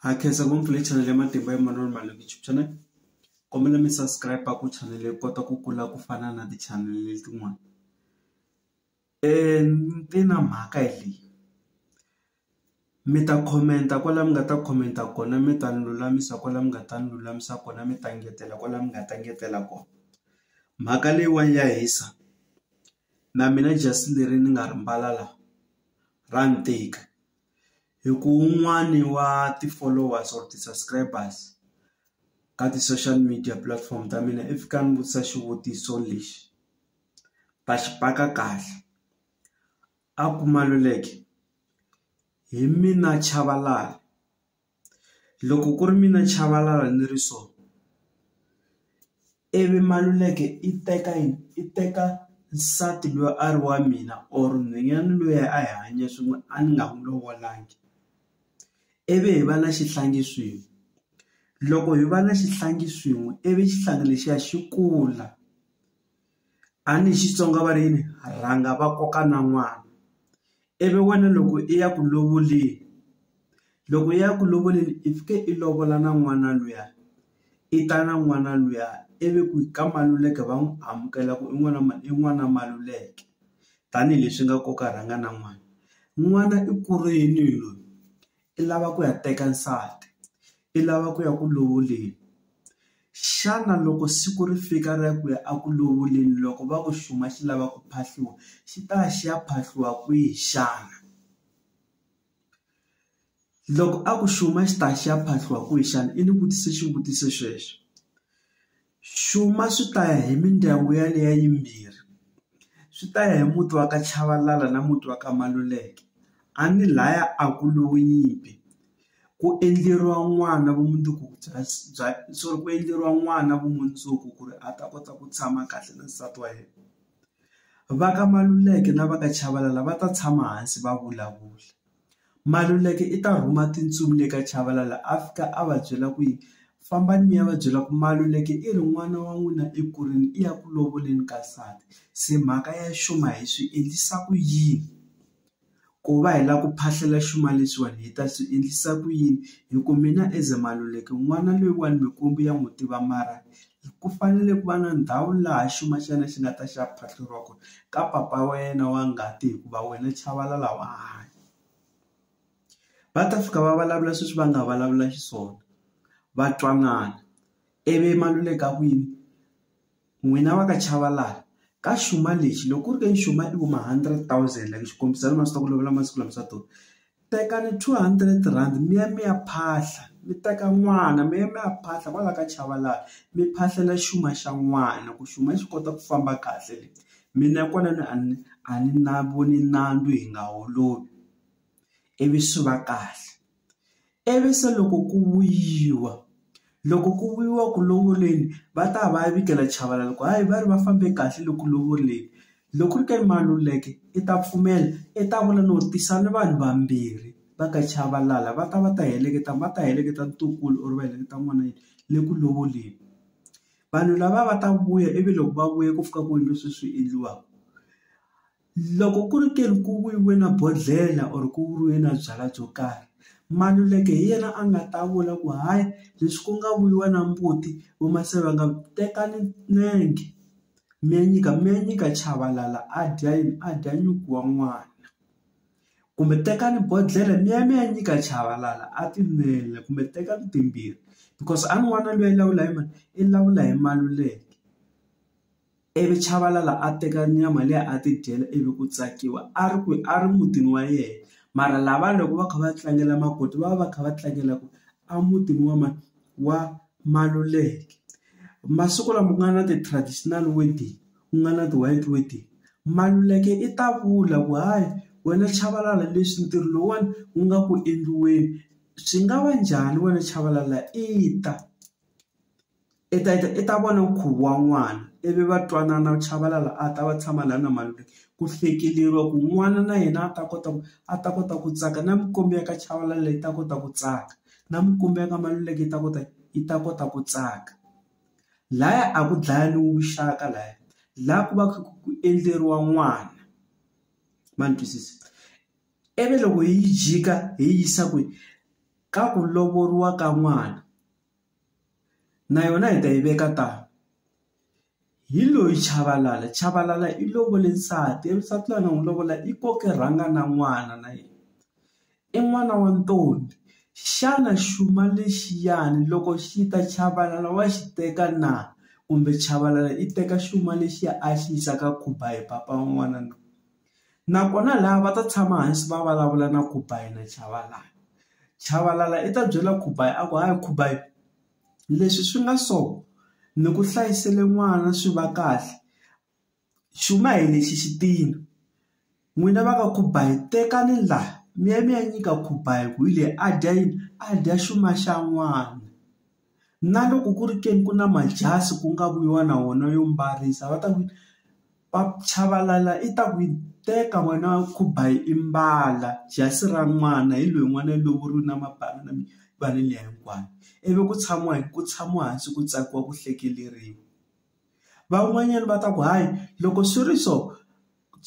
Ha khensa ngopfu le channel ya matimba ya manana mali YouTube channel kombela mi subscribe ku channel yi kota ku kula ku fana na ti channel letin'wana ni na mhaka hi leyi mi ta comment kwala mi nga ta comment kona mi ta ni lulamisa kwala mi nga ta ni lulamisa kona mi ta engetela kwala mi nga ta engetela kona mhaka leyiwani ya hisa na mina just leri ni nga ri mbala la ra ni tika Hi ku wun'wani wa ti-followers or ti-subscribers ka ti-social media platform ta mina i fika a ni vutisa xivutiso lexi, ta xi paka kahle. A ku Maluleke hi mina Chabalala, loko ku ri mina Chabalala ni ri so, ivi Maluleke i teka yini i teka nsati loyi a ri wa mina or nhwanyana loyi a hi hanya swin'we a ni nga n'wi lovolangi ivi hi va na xihlangi swin'we loko hi va na xihlangi swin'we ivi xihlangi lexiya xi kula a ni Xitsonga va ri yini rhanga va koka na n'wana Ivi wena loko i ya ku lovoleni loko i ya ku lovoleni i fike i lovola na n'wana luya i ta na n'wana luya ivi ku ka maluleke va n'wi amukela ku i n'wana i n'wana maluleke tanihileswi nga koka rhanga na n'wana n'wana i kurile loyi i lava ku ya teka nsati i lava ku ya ku lovoleni xana loko siku ri fika ra ku ya eku lovoleni loko va ku xuma xi lava ku phahliwa xi ta ya xi ya phahliwa kwihi xana loko a ku xuma xi ta xi ya phahliwa kwihi xana i ni vutise xivutiso xexo. Xuma swi ta ya hi mindyangu yaleyo yimbirhi, swi ta ya hi muti wa ka Chavalala na muti wa ka Maluleke, a ni laya a ku lowu nyimpi, ku endleriwa n'wana vumundzuku bya bya sorry ku endleriwa n'wana vumundzuku ku ri a ta kota ku tshama kahle na nsati wa yena. Va ka Maluleke na va ka Chavalala va ta tshama hansi va vulavula. Maluleke i ta rhuma tintsumi le ka Chabalala a fika a va byela ku yi fambani mi ya va byela ku Maluleke i ri n'wana wa n'wina ekurile i ya ku lovoleni ka nsati se mhaka ya xuma hi swi endlisa ku yini ku va hi lava ku phahlela xuma lexiwani hi ta swi endlisa ku yini hi ku mina as Maluleke n'wana loyiwani mikwembu ya n'wi tiva mara. Ku fanele ku va na ndhawu laha xuma xa yena xi nga ta xi ya phatluriwa kona ka papa wa yena wa ngati hikuva wena chavalala wa hanya va ta fika va vulavula sweswi va nga vulavula xiswona va twanana ivi Maluleka a ku yini n'wina va ka Chavalala ka xuma lexi loko ku ri ka nxuma i vo ma hundred thousand like xikombiso ni ma swi tiva ku lovola masiku lama swa durha. Tekani two hundred rand mi ya mi ya phahla mi teka n'wana mi ya mi ya phahla kwala ka Chabalala mi phahlela xuma xa n'wana ku xuma xi kota ku famba kahle le, mina kwalano a ni a ni na voni nandzu hi nga holovi ivi swi va kahle, ivi se loko ku vuyiwa loko ku vuyiwa ku lovoleni va ta va ya vikela Chabalala ku hayi va ri va fambe kahle loku lovoleni Loko ku ri ka i Maluleke i ta pfumela i ta vula no tisa ni vanhu vambirhi va ka Chabalala va ta va ta heleketa va ta heleketa ntukulu or va heleketa n'wana yini le ku lovoleni vanhu lava va ta vuya ivi loko va vuya ku fika ku endliwa sweswi swi endliwaka loko ku ri ke ni ku vuyiwe na bodlhela or ku vuriwe na byalwa byo karhi Maluleke hi yena a nga ta vula ku hayi leswi ku nga vuriwa na mbuti vamasi va nga tekani nenge. mi ya nyika mi ya nyika Chabalala a dya yini a dya nyuku wa n'wana kumbe tekani bodlhela mi ya mi ya nyika Chabalala a ti nwela kumbe tekani timbirhi because a n'wana loyi a lawula hi mani i lawula hi Maluleke ivi Chabalala a teka nyama liya a ti dyela ivi ku tsakiwa a ri kwihi a ri mutini wa yena mara lava loko va kha va tlangela makoti va va va kha va tlangela ku a mutini wa mani. wa Maluleke masiku lama ku nga na ti-traditional wedding ku nga na ti-white wedding Maluleke i ta vula ku hayi wena Chabalala leswi ntirho lowuwani wu nga ku endliweni swi nga va njhani wena Chabalala i ta i ta i ta i ta vona nkhuvo wa n'wana ivi va twanana Chabalala a ta va tshama laha na Maluleke ku hlekeleriwa ku n'wana na yena a ta kota ku a ta kota ku tsaka na minkombi ya ka Chabalala yi ta kota ku tsaka. na mikumba ya ka Maluleke yi ta kota yi ta kota ku tsaka laya a ku dlaya lowu vuxaka laya la ku va ku endleriwa n'wana ma ni twisisa ivi loko hi yi jika hi yi yisa kwihi ka ku lovoriwa ka n'wana na yona hi ta yi veka tano Hi loyi Chabalala, Chabalala i lovole nsati ivi nsati loyi a nga n'wi lovola i koke rhanga na n'wana na yena i n'wana wa ntombi xana xuma lexiyani loko xi ta Chabalala wa xi teka na kumbe Chabalala i teka xuma lexiya a xi yisa ka Khuba hi papa wa n'wana na nakona laha va ta tshama hansi va vulavula na Khuba na Chabalala, Chabalala i ta byela Khuba a ku hayi Khuba. Leswi swi nga so ni ku hlayisele n'wana swi va kahle xuma hi lexi xi tina n'wina va ka Khubai tekani la mi ya mi ya nyika Khubai hi ku hi leyi a dya yini a dya xuma xa n'wana na loko ku ri ke ni ku na majazi ku nga ku yiwa na wona yo mbarisa va ta ku. Chabalala i ta ku yi teka wena khuba hi i mbala jasi ra n'wana hi loyi n'wana i lovoriwile na mabandi na mibala liya hinkwayo ivi ku tshamiwa hi ku tshamiwa hansi ku tsakiwa ku hlekeleriwa van'wanyana va ta ku hayi loko swi ri so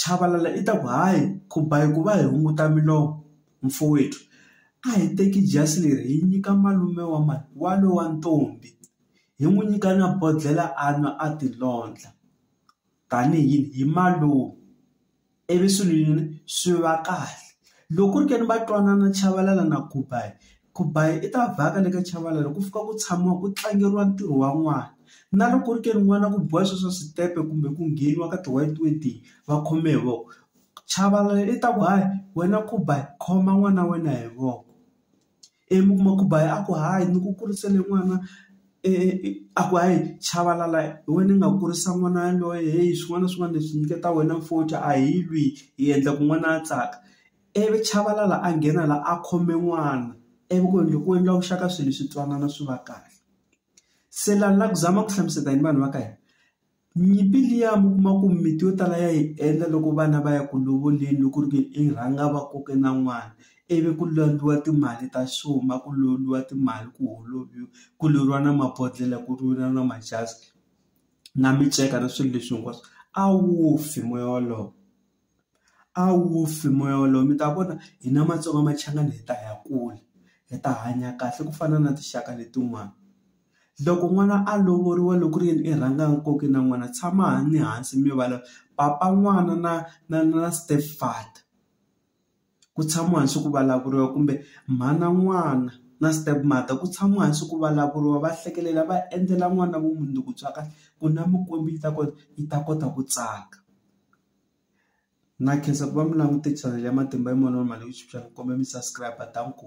Chabalala i ta ku hayi khuba hi ku va hi hunguta milomo mfowethu a hi teki jasi leri hi nyika malume wa mhani wa lowa ntombi hi n'wi nyika na bodlhela a nwa a tilondla. tanihi yini hi malume ivi swilo yini swi va kahle loko ku ri ke ni va twanana Chabalala na Khumbayi, Khumbayi i ta vhaka le ka Chabalala ku fika ku tshamiwa ku tlangeriwa ntirho wa n'wana na loko ku ri ke ni n'wana ku biwa swo swa switepe kumbe ku ngheniwa ka ti-white wedding va khome hi voko Chabalala i ta ku hayi wena Khumbayi khoma n'wana wa wena hi voko. ivi mi kuma ku ba a ku hayi ni ku kurisele n'wana a ku hayi chavalala hi wena i nga kurisa n'wana yaloye heyi swin'wana na swin'wana leswi nyiketa wena mfuthu a hi lwi hi endla ku n'wana a tsaka ivi chavalala a nghena la a khome n'wana ivi ku endla ku endla vuxaka swilo swi twanana swi va kahle se la ni la ku zama ku hlamusela yini vanhu va ka hina. Nyimpi liya mi kuma ku mimiti yo tala ya yi endla loko vana va ya ku lovoleni loko ku ri ku i rhanga va koke na n'wana ivi ku landza timali ta xuma ku lombiwa timali ku holobye ku lwiwa na mabodhlele ku lwiwa na majazi na minceka na swilo leswi hinkwaswo a wu fi moya wolowo. A wu fi moya wolowo mi ta vona hina Matsonga Machangani hi ta ya kula hi ta hanya kahle ku fana na tinxaka letin'wana. Loko n'wana a lovoriwa loko ku ri yini i rhanga a koka na n'wana tshama ni hansi mi vulavula papa n'wana na na na step father. ku tshamiwa hansi ku vulavuriwa kumbe mhana n'wana na step mother ku tshamiwa hansi ku vulavuriwa va hlekelela va endlela n'wana vumundzuku bya kahle ku na mikwembu yi ta kota yi ta kota ku tsaka. Na khensa ku va mi langute chanel ya Matimba hi Moya Lowo Lama Leyi Phyuphyeke kumbe mi subscribe-a. Danko.